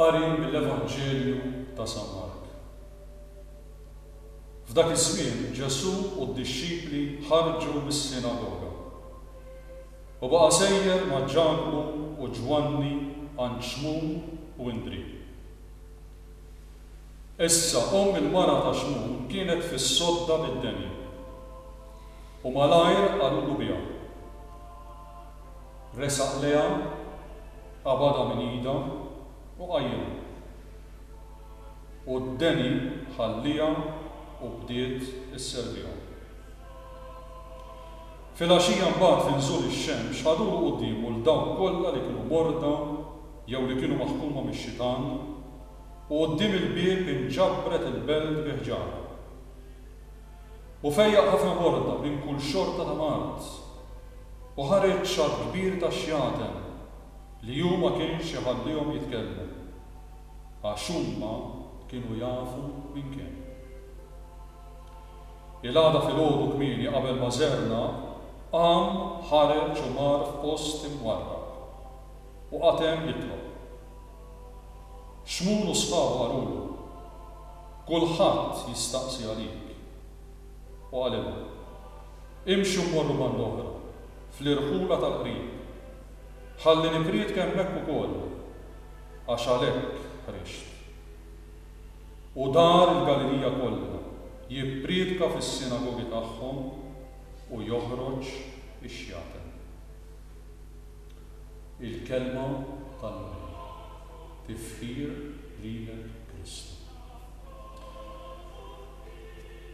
Qari mill-Evanġelju ta' San Mark. F'dak iż-żmien Ġesù u d-dixxipli ħarġu mis-sinagoga. U baqa' sejjer ma' Ġakbu u Ġwanni għand Xmun u Indrì. Issa omm il-mara ta' Xmun kienet fis-sodda mid-denja, u malajr qalulu biha. Resaq lejha, qabadha minn idha u qajjimha. U d-deni ħalliha u bdiet isservihom. Filgħaxija mbagħad fi nżul ix-xemx ħadulu quddiemu 'l dawk kollha li kienu morda jew li kienu maħkuma mix-xitan, u quddiem il-bieb inġabret il-belt bi ħġarha. U fejjaq ħafna morda minn kull xorta ta' mard, u ħareġ xatt kbir ta' xjaten li hu ma kienx iħallihom jitkellmu, għax huma kienu jafu minn kien. Il-għada filgħodu kmieni qabel ma żerna, qam, ħareġ u mar f'post imwarrab. U qagħad hemm jitlob. Xmun u sħabu qalulu, Kulħadd jistaqsi għalik. U qalilhom, Imxu mmorru banda-oħra, fl-irħula tal-qrib, ħalli nippriedka hemmhekk ukoll, għax għalhekk ħriġt. u dar il-Galilija kollha, jipprietka fis-sinagogi tagħhom u joħroġ ix-xjaten. Il-Kelma tal-Mulej. Tifħir lilek Kristu.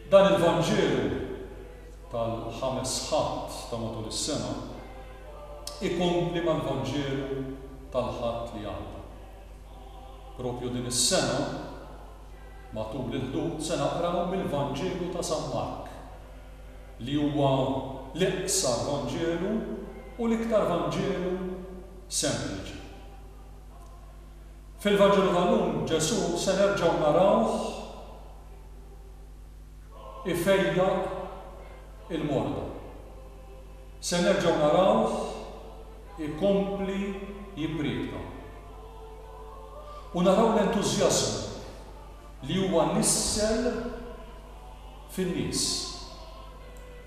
Dan il-Vanġelu tal-Ħames Ħadd ta' matul is-sena ikompli mal-Vanġelu tal-Ħadd li għadda. Propju din is-sena, matul il-Ħdud se naqraw mill-Vanġelu ta' San Mark, li huwa l-iqsar Vanġelu u l-iktar Vanġelu sempliċi. Fil-Vanġelu tal-lum Ġesù se nerġgħu narawh ifejjaq il-morda. Se nerġgħu narawh. ikompli jippriedka. U naraw l-entużjażmu li huwa nissel fin-nies.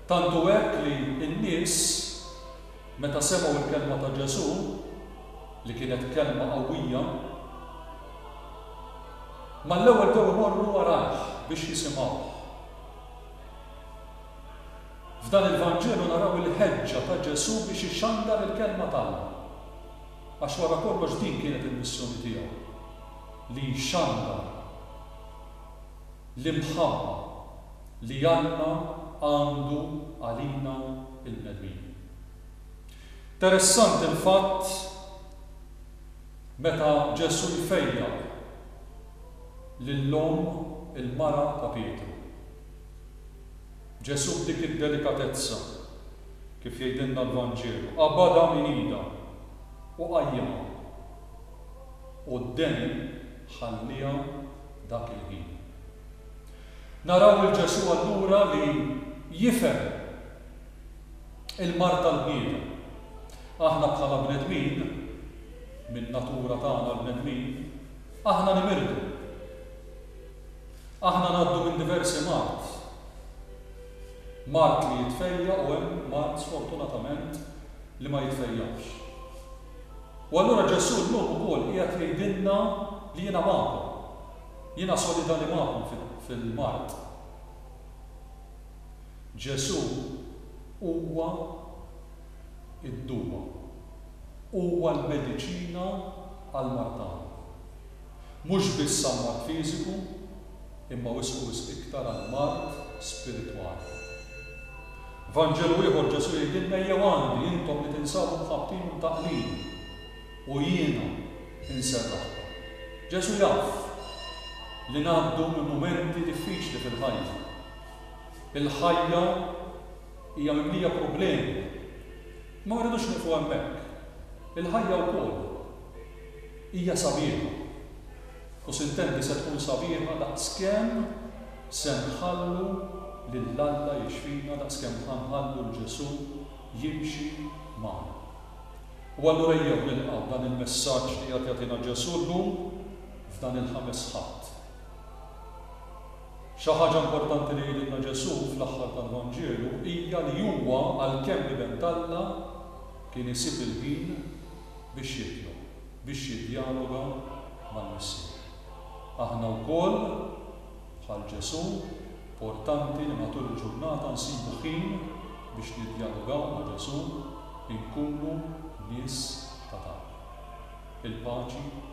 Tant hu hekk li n-nies, meta semgħu l-kelma ta' Ġesù, li kienet kelma qawwija, mal-ewwel bdew imorru warajh biex jisimgħuh. F'dan il-Vanġelu naraw il-ħeġġa ta' Ġesù biex ixandar il-Kelma t'Alla. Għax wara kollox din kienet il-missjoni tiegħu, li jxandar l-imħabba li Alla għandu għalina l-bnedmin. Interessanti l-fatt meta Ġesù jfejjaq lil omm il-mara ta' Pietru. Ġesù b'dik id-delikatezza, kif jgħidilna l-Vanġelu, qabadha minn idha u qajjimha. U d-deni ħallieha dak il-ħin. Naraw lil Ġesù allura li jifhem il-mard tal-bniedem. Aħna bħala bnedmin, min-natura tagħna l-bnedmin, aħna nimirdu. Aħna ngħaddu minn diversi mard. Mard li jitfejja' u hemm mard sfortunatament li ma jitfejjax. U allura Ġesù llum ukoll qiegħed jgħidilna li jiena magħkom. Jiena solidali magħkom fil-mard. Ġesù huwa d-duwa. Huwa l-mediċina għall-mard tagħna. Mhux biss għall-mard fiżiku, imma wisq u wisq iktar għall-mard spiritwali. F'Vanġelu ieħor Ġesù jgħidilna ejjew għandi intom li tinsabu mħabbtin u mtaqqlin u jiena inserraħkom. Ġesù jaf li ngħaddu minn mumenti diffiċli fil-ħajja. Il-ħajja hija mimlija problemi. Imma ma rridux nieqfu hemmhekk. Il-ħajja wkoll Hija sabiħa. U sintendi se tkun sabiħa daqskemm se nħallu lil Alla jixfina, daqskemm ħa nħallu 'l Ġesù jimxi magħna. U allura ejjew nilqgħu dan il-messaġġ li qed jagħtina Ġesù llum f'dan il-Ħames Ħadd. Xi ħaġa importanti li jgħidilna Ġesù fl-aħħar tal-Vanġelu hija li huwa għalkemm Iben t'Alla kien isib il-ħin biex jitlob biex jiddjaloga mal-Missier. Aħna wkoll, bħal Ġesù, portanti li matul il-ġurnata nsibu ħin biex niddjalogaw ma' Ġesù, inkunu nies ta' talb. Il-paċi.